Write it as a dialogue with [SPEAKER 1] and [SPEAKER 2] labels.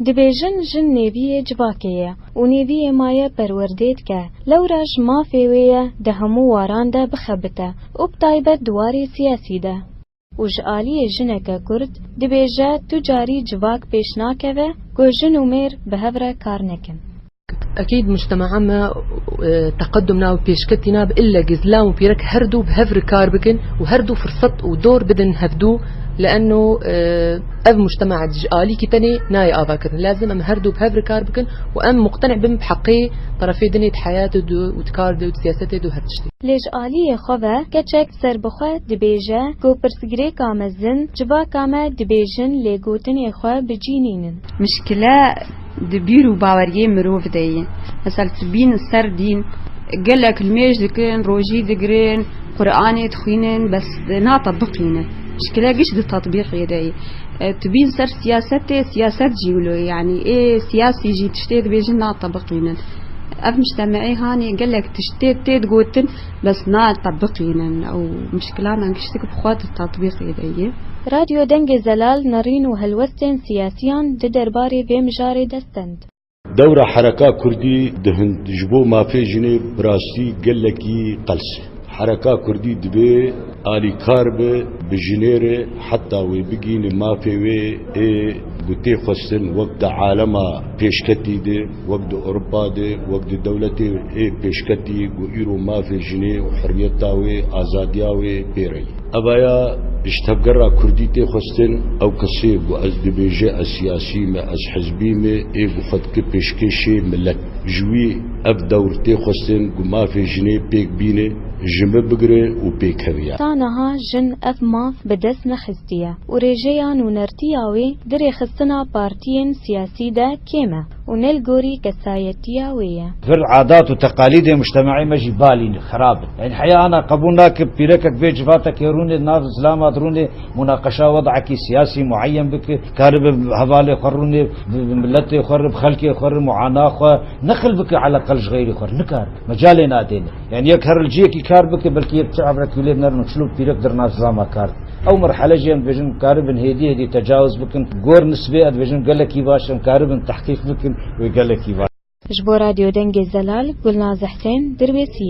[SPEAKER 1] Dibêjin jin nêviyê civakê ye û nêviyê maye perwerdê dike, lewra ji mafê wê ye di hemû waran de bixebite û bi taybet di warê siyasî de. û ji aliyê jineke kurd dibêje tu carî civak pêş nakeve ku jin û mêr bi hev re kar nekin. Ekîd mujtemea me teqedum na û pêşketî nabe ille ku zilam û pîrek herdû bi hev re kar bikin û herdû firsat û dor bidin hevdû lienno ev mujtemea di ji alîkî tenê nayê avakirin. Lazim em herdû bi hev re kar bikin û em muqtenî bin bi heqê terefê din ê di heyatê de û di kar de û di siyasetê de û her tiştê. Lê ji aliyê xwe ve keçek Serbixwe dibêje ku pirsgirêka mezin civaka me dibêjin lê gotinê xwe bi cî nînin. Mişkile di bîr û baweriyê mirov de ye. Misal tibîn ser dîn gelek nimêj dikin, rojî digirin, Quranê dixwînin bes natebiqînin. Mişkile giş di tetbîqê de ye. Tibîn ser siyasetê, siyaset jî wilo ye. Yanî ê siyasî jî tiştê dibêjin natebiqînin. Ev mictemeyê hanê gelek tiştê tê digotin. Bes natebiqînin ew mişkilanan kiştik bi xwe di tetbîqê de ye. Radyo Dengê Zelal nerîn û helwestên siyasiyan di derbarê vê mijarê destend. Dewra Hereka Kurdî di Hind ji bo mafê jinê bi rastî gelekî qels e. Hereka Kurdî dibê alîkar be bi jinê re heta wê bigihîne mafê wê ê ku tê xwestin wek di alema pêşketî de. Wek di Ewropa de, wek di dewletê ê pêşketî ku îro mafê jinê û hurriyeta wê, azadiya wê pê re ye. Evaya ji tevgera kurdî tê xwestin, ew kesê ku ez dibêje ez siyasî me, ez hizbî me ê ku xwe dike pêşkêşê milet. Ji wî ev dewr tê xwestin ku mafê jinê pêk bîne, ji min bigire û pêkeve. Ta niha jin ev maf bi dest nexistiye û rêjeya nûnertiya wê Di rêxistina partiyên siyasî de kêm e û ne li gorî kesayetiya wê ye. Vir adat û teqalîdên mujtemeyê me jî balî ne, xerab in. Eyn heya ana qebûl nake pîrekek bê civatekê rûnê di nav zilama de rûnê munaqeşa wed'ekî siyasî mueyen bike, karibe bi hevalê xwe rûnê bi miletê xwe re, bi xelkê xwe re muana xwe neqil bike eleqel ji xeyrê xwe re nikare, mecalê nade ne. Yan yek her li cihekî kar bike, belkî yek çi evre kîlêr nerin û çil û pîrek dir nav zama kar. Ew merhele jî em dibêjin karibin hêdî hêdî tecawuz bikin. Gor nisbê ez dibêjin gelekî baş em karibin tehqîq bikin wê gelekî baş. Ji bo Radyo Dengê Zelal, Gulnaz Husên, Dirbêsiyê.